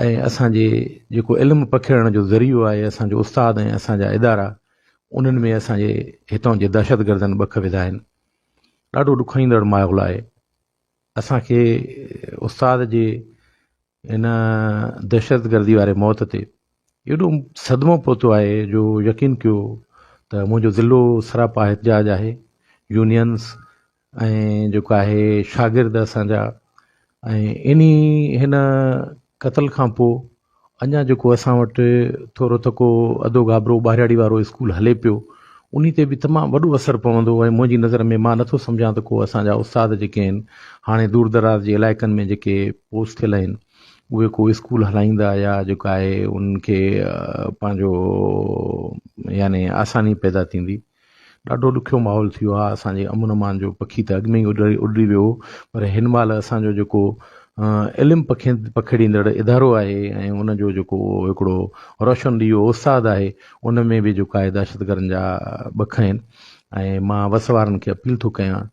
۽ اسان جي جيڪو علم پکيڙڻ جو ذريعو آهي اسان جو استاد ۽ اسان جا ادارا انهن ۾ اسان جي هتان جي دهشتگردن ٻک وڌا آهن ڏاڍو ڏکوئيندڙ ماحول آهي اسان کي استاد جي ان دهشتگردي واري موت تي ايڏو صدمو پهتو آهي جو يقين ڪيو ته منهنجو ضلعو سراپا احتجاج آهي يونينس ۽ جيڪو آهي شاگرد اسان جا ۽ انهي هن قتل کان پوء اڃا جيڪو اسان وٽ ٿورو ٿڪو اڌو گابرو ٻارياڙي وارو اسڪول هلي پيو انهي تي به تمام وڏو اثر پوندو ۽ منهنجي نظر ۾ مان نٿو سمجهان ته ڪو اسان جا استاد جيڪي آهن هاڻي دور دراز جي علائقن ۾ جيڪي پوسٽ ٿيل آهن اهي ڪو اسڪول هلائيندا يا جيڪو آهي انهن کي پنهنجو يعني آساني پيدا ٿيندي ڏاڍو ڏکيو ماحول ٿي ويو آهي اسان جي امن امان جو پکي ته اڳ ۾ ئي اڏري ويو پر هن مهل اسان جو جيڪو علم پکين پکيڙيندڙ ادارو آهي ۽ ان جو جيڪو هڪڙو روشن ڏيئو استاد آهي ان ۾ به جيڪو آهي دهشتگردن جا ٻک آهن ۽ مان وس وارن کي اپيل ٿو ڪيان